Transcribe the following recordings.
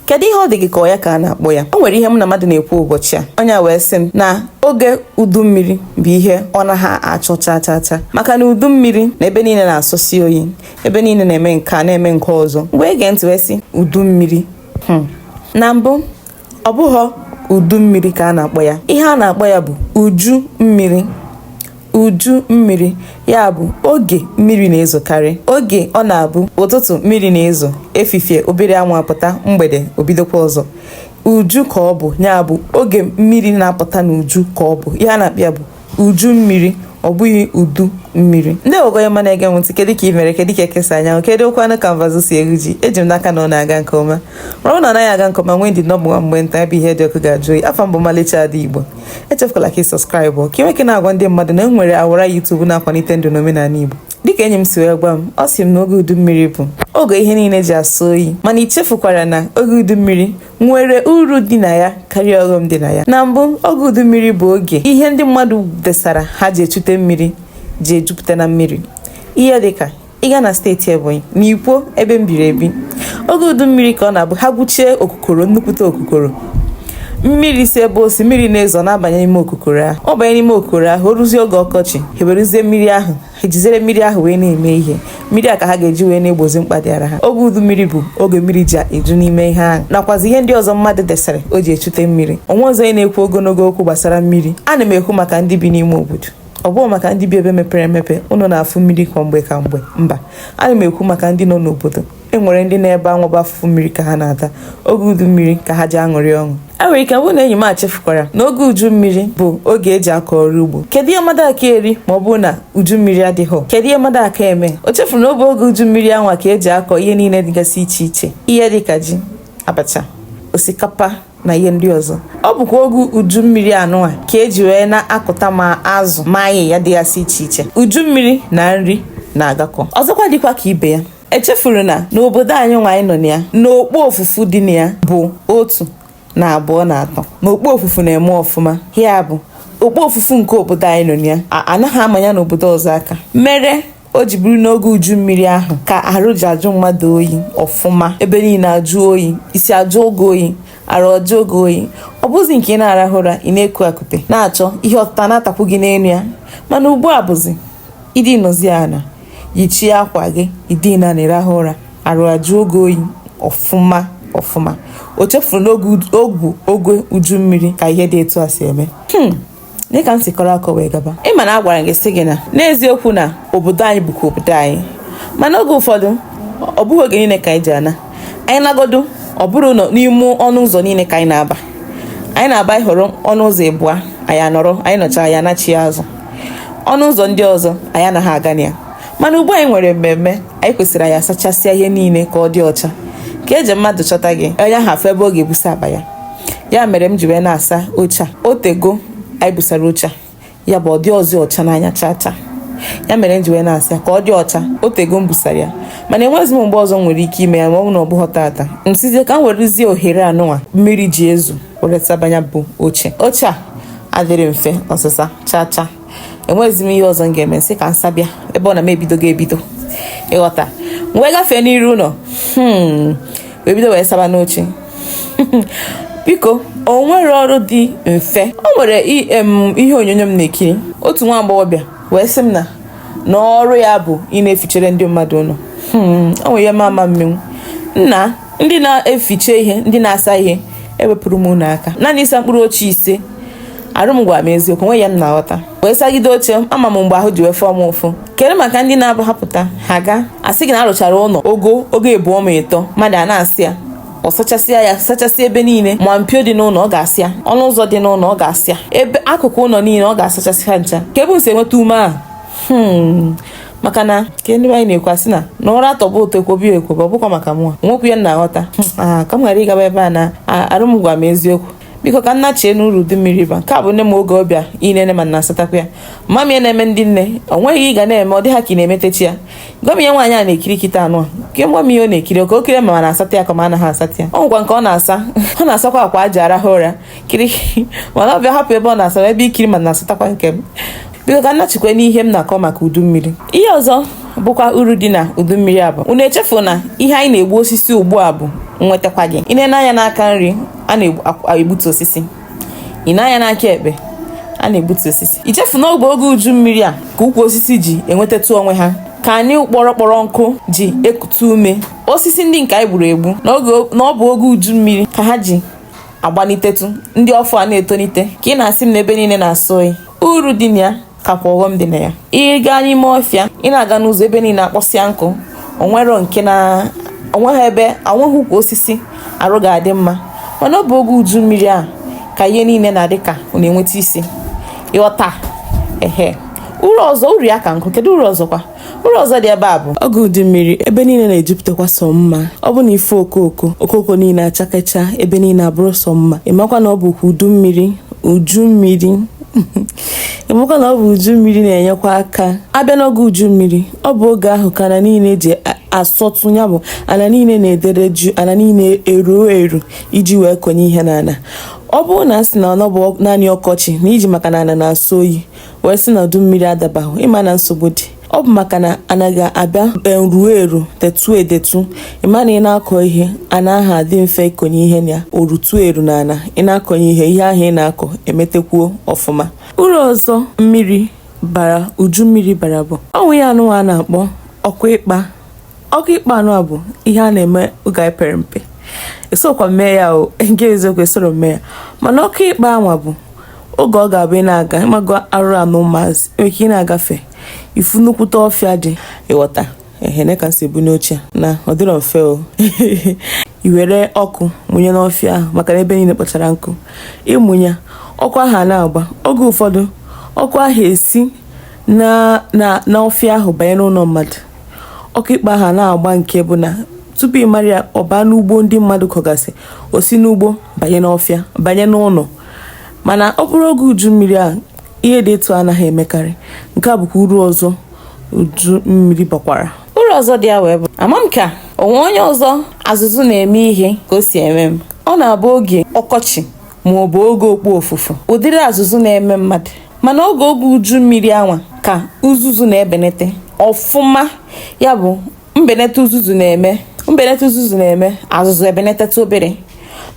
kedu ihe ọ dị gị ka ọ ya ka a na-akpọ ya o nwere ihe mụ na mmadụ na-ekwu ụbọchị a onye wee sị m na oge udu mmiri bụ ihe ọ naghị achọ chaa chaa chaa maka na udu mmiri na ebe niile na-asọsi oyi ebe niile na-eme nke a na-eme nke ọzọ mgbe ege ntị wee sị udu mmiri Hmm. Na mbụ, ọ bụghọ udu mmiri ka a na-akpọ ya. Ihe a na-akpọ ya bụ uju mmiri. uju mmiri ya bụ oge mmiri na-ezokarị oge ọ na-abụ ụtụtụ mmiri na-ezo efifie obere anwụ apụta mgbede o bidokwa ọzọ uju ka ọ bụ ya bụ oge mmiri na-apụta n'uju ka ọ bụ ihe a na-akpọ ya bụ uju mmiri ọ bụghị udu mmiri ndị ogoye ma na-ege m ntị kedu ka ị mere kedu ka eke si anya anwụ kedukwanụ ka mbazụ si eru ji eji m n'aka na ọ na-aga nke ọma ma ọ na ọ naghị aga nke ọma nwee ndidi na ọ bụ nwa mgbe nta ebe ihe dị ọkụ ga-ajụ oyi afa m bụ ọmalịcha ada igbo echefukwala ka ị subscribe ka ị na-agwa ndị mmadụ na e nwere ọwara youtube na-akwalite ndụ na omenala igbo dịka enyi m si wee gwa m ọ sị m na oge udu mmiri bụ oge ihe niile ji asọ oyi mana i chefukwara na oge udu mmiri nwere uru dị na ya karịa ọghọm dị na ya na mbụ oge udu mmiri bụ oge ihe ndị mmadụ desara ha ji echute mmiri ji ejupụta na mmiri ihe dịka ị gaa na steeti ebonyi na ikwo ebe m biri ebi oge udu mmiri ka ọ na-abụ ha gwuchie okukoro nnukwute okukoro mmiri si ebe o si mmiri na-ezo na-abanye n'ime okukoro ahụ ọ banye n'ime okukoro ahụ o ruzie oge ọkọchị ha ewerezie mmiri ahụ ha ejizere mmiri ahụ wee na-eme ihe mmiri a ka ha ga-eji wee na-egbozi mkpa dịara ha oge udu mmiri bụ oge mmiri ji eju n'ime ihe ahụ nakwazi ihe ndị ọzọ mmadụ desịrị o ji echute mmiri onwe ọzọ onye na-ekwu ogologo okwu gbasara mmiri ana m ekwu maka ndị bi n'ime obodo ọ bụghọ maka ndị bi ebe mepere emepe ụnụ na-afụ mmiri kwa mgbe kwa mgbe mba ana m ekwu maka ndị nọ n'obodo e nwere ndị na ebe ha nọ bụ afụfụ mmiri ka ha na-ata oge udu mmiri ka ha ji aṅụrị ọṅụ o nwere ike bụrụ na enyi m echefukwara na oge uju mmiri bụ oge e ji akọ ọrụ ugbo kedu ihe mmadụ aka eri ma ọ bụrụ na uju mmiri adịghị kedu ihe mmadụ aka eme o chefuru na ọ bụ oge uju mmiri anwa ka e ji akọ ihe niile dịgasị iche iche ihe dịka ji abacha osikapa na ihe ndị ọzọ ọ bụkwa oge uju mmiri anụwa ka e ji wee na-akụta ma azụ ma ahịhịa dịgasị iche iche uju mmiri na nri na-agakọ ọzọkwa dịkwa ka ibe ya echefuru na n'obodo anyị nwa anyị nọ na ya na okpofufu dị na ya bụ otu na abụọ na atọ na okpofufu na-eme ọfụma ya bụ okpofufu nke obodo anyị nọ na ya anaghị ama ya n'obodo ọzọ aka mere o ji bụrụ n'oge uju mmiri ahụ ka arụ ji ajụ mmadụ oyi ọfụma ebe niile ajụọ oyi isi ajụọ gị oyi arụ ajụọ gị oyi ọ bụzi nke ị na-arahụ ụra ị na-eku akụpe na-achọ ihe ọtụta na-atakwu gị n'elu ya mana ugbu a bụzi Ị dinọzi ana, yichie akwa gị, ị dina anị rahụ ụra, arụ ajụọ gị oyi ọfụma ọfụma. O chefuru na ọ bụ oge uju mmiri ka ihe dị etu a si eme. Hmm. Dị ka m si kọrọ akọ wee gaba. Ị ma na a gwara gị sị gị na n'eziokwu na obodo anyị bụkwa obodo anyị. Mana oge ụfọdụ, ọ bụghị oge niile ka anyị ji ana. anyị nagodo ọ bụrụ na n'ime ọnụ ụzọ niile ka anyị na-aba anyị na-aba ị họrọ ọnụ ụzọ ịbụa anyị anọrọ anyị nọcha anyị anachi azụ ọnụ ụzọ ndị ọzọ anyị anaghị aga na ya mana ugbu a anyị nwere mmemme anyị kwesịrị anyị asachasịa ihe niile ka ọ dị ọcha ka eji mmadụ chọta gị onye ahụ afụ ebe ọ ga-ebusa akpa ya ya mere m ji wee na-asa oche a o tego anyị busara oche a ya bụ ọ dịrọzi ọcha n'anya chaa chaa ya mere m ji wee na-asa ya ka ọ dị ọcha o tego m busara ya mana enweghịzi m mgbe ọzọ m nwere ike ime ya ma ọ bụ na ọ bụghị tata m sizie ka m werezie ohere anụnwa mmiri ji ezo were saba nya bụ oche oche a adịrọ mfe ọsịsa chaa chaa enweghịzi m ihe ọzọ m ga-eme m sị ka m saba ya ebe ọ na m ebidogo ebido ị ghọta wee gafee n'iru ụlọ hmm. wee bido wee saba n'oche biko o nwere ọrụ dị mfe o nwere ihe onyonyo m na-ekiri otu nwa agbọghọbịa wee sị m na na ọrụ ya bụ ịna-efichere ndị mmadụ ụlọ hmm, o nwere ihe m ama-emenwu nna ndị na-efiche ihe ndị na-asa ihe ewepụrụ m unu aka naanị ịsa mkpụrụ oche ise arụ m gwara m eziokwu nwe ya m na-aghọta wee sagide oche ama m mgbe ahụ ji wee fụọ m ụfụ kedu maka ndị na-abụ ha pụta ha ga-asị gị na a rụchara ụlọ ogogo ịbụọ ma ịtọ mmadụ ana-asa ya ọ sachasịa ya sachasịa ebe niile ma mpio dị n'ụlọ ọ ga-asa ya ọnụ ụzọ dị n'ụlọ ọ ga-asa ya ebe akụkụ ụlọ niile ọ ga-asachasị ha ncha kee ebe unu si enweta ume ahụ hmm. maka na ka ndị anyị na-ekwu sị na na ụra atọba ụtọ ekwobe ekwobe ọ bụkwa maka mụa nwekwu ya na-aghọta hmm. ah, ka m ghara ịgaba ebe a na arụ m gwa m eziokwu biko ka m nachie n'uru udu mmiri ba nke a bụ nne m oge ọ bịa ịnene ma m na-asatakwa ya ama m ihe na-eme ndị nne o nweghị ihe ị ga na-eme ọ dị ha ka ị na-emetechi ya gwa m ihe nwaanyị a na-ekiri kịta anụ a ke gwa m ihe ọ na-ekiri ọ ka o kiri ma m na-asata ya ka m anaghị asata ya ọ nwekwa nke ọ na-asa ọ na-asakwa akwa e ji arahụ ụra kiri mana ọ bịa hapụ ebe ọ na-asa bịa ikiri ma m na-asatakwa nke m biko ka m nachikwa n'ihe m na-akọ maka udu mmiri ihe ọzọ bụkwa uru dị na udu mmiri a bụ unu echefu na ihe anyị na-egbu osisi ugbu a bụ nwetakwa gị ị na-ene anya n'aka nri a na-egbutu osisi i nee anya n'aka ekpe a na-egbutu osisi i chefu na oge oge uju mmiri a ka ukwu osisi ji enwetatụ onwe ha ka anị kpọrọ kpọrọ nkụ ji ekute ume osisi ndị nke anyị gburu egbu na ọ bụ oge uju mmiri ka ha ji agbanitetụ ndị ọfụ a na-etonite ka ị na-asị m n'ebe niile na-ajụ oyi uru dị na ya kakwa ọghọm dị na ya ị gaa n'ime ọfịa ị na-aga n'ụzọ ebe niile akpọsịa nkụ o nwerọ nke na o nweghị ebe o nweghị ukwu osisi arụ ga-adị mma mana ọ bụ oge uju mmiri a ka ihe niile na-adị ka ọ na-enweta isi ị ghọta ehe uru ọzọ uru ya ka nkụ kedu uru ọzọkwa uru ọzọ dị ebe a bụ oge udu mmiri ebe niile na-ejupụtakwa sọ mma ọ bụ na ife okooko okooko niile achakacha ebe niile abụrụ sọ mma ị makwa na ọ bụ udu mmiri uju mmiri ị makwa na ọ bụ uju mmiri na-enyekwa aka a bịa n'oge uju mmiri ọ bụ oge ahụ ka ana niile ji asọtụ ya bụ ana niile na-edere jụụ ana niile eruo eru iji wee konye ihe n'ala ọ bụrụ na a sị na ọ bụ naanị ọkọchị na i ji maka na ana na-asọ oyi wee sị na udu mmiri adabahụ ị ma na nsogbu dị ọ bụ maka na ana ga-abịa eruo eru detu edetu ị ma na ị na-akọ ihe ana ahụ adị mfe ịkọnye ihe na ya o rutu eru na ana ị na-akọnye ihe ihe ahụ ị na-akọ emetekwuo ọfụma uru ọzọ mmiri bara uju mmiri bara bụ o nwe ihe anwa a na-akpọ ọkụ ikpa ọkụ ikpa anwa bụ ihe a na-eme oge anyị pere mpe esokwa m mee ya o nke eziokwu esoro m mee ya mana ọkụ ikpa anwa bụ oge ọ ga-abụ ị na-aga ị mago arụ anụ maazị nwere ike ị na-agafe ị fụ nnukwute ọfịa dị ị ghọta ehene ka si ebu n'uche na ọ dịrọ mfe o i were ọkụ mụnye n'ọfịa ahụ maka na ebe niile kpọchara nkụ ị mụnye ọkụ ahụ a na-agba oge ụfọdụ ọkụ ahụ esi n'ọfịa ahụ banye n'ụlọ mmadụ ọkụ ikpa ahụ a na-agba nke bụ na tupu ị mara ya ọ baa n'ugbo ndị mmadụ kọgasị o si n'ugbo banye n'ọfịa banye n'ụlọ mana ọ bụrụ oge uju mmiri a ihe dị etu a anaghị emekarị nke a bụkwa uru ọzọ uju mmiri bakwara uru ọzọ dị ya wee bụ ama m ka o nwe onye ọzọ azụzụ na-eme ihe ka o si eme m ọ na-abụ oge ọkọchị ma ọ bụ oge okpofufu ụdịrị azụzụ na-eme mmadụ mana oge oge uju mmiri anwa ka uzuzu na-ebenete ọfụma ya bụ mbeneta uzuzu na-eme mbeneta uzuzu na-eme azụzụ ebeneteta obere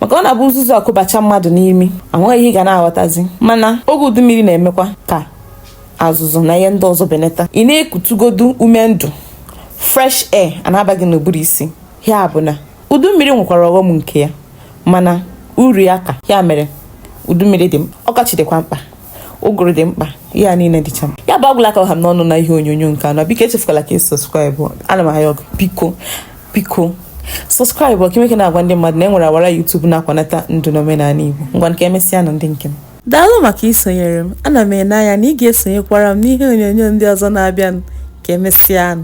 maka ọ na-abụ uzuzu akụbacha mmadụ n'imi enweghị ihe ị ga na-aghọtazi mana oge udu mmiri na-emekwa ka azụzụ na ihe ndị ọzọ beneta ị na-ekutugodu ume ndụ fresh air a na-aba gị n'ụbụrụ isi ya bụ na udu mmiri nwekwara ọghọm nke ya mana uru ya ka ya mere udu mmiri dị mkpa ọkọchị dịkwa mkpa ụgụrụ dị mkpa ha niile dịcha mkpa ya bụ agwụla ka ọ ha m n'ọnụ na ihe onyonyo nke anọ biko echefukwala ka ị subscribe ana m ayọ biko biko subscribe o ka i meke na-agwa ndị mmadụ na e nwere ọwara youtube na-akwanata ndụ na omenala igbo ngwanụ ka emesịa nụ ndị nke m daalụ maka isonyere m ana m ene anya na ị ga-esonyekwara m n'ihe onyonyo ndị ọzọ na-abịanụ ka emesịa nụ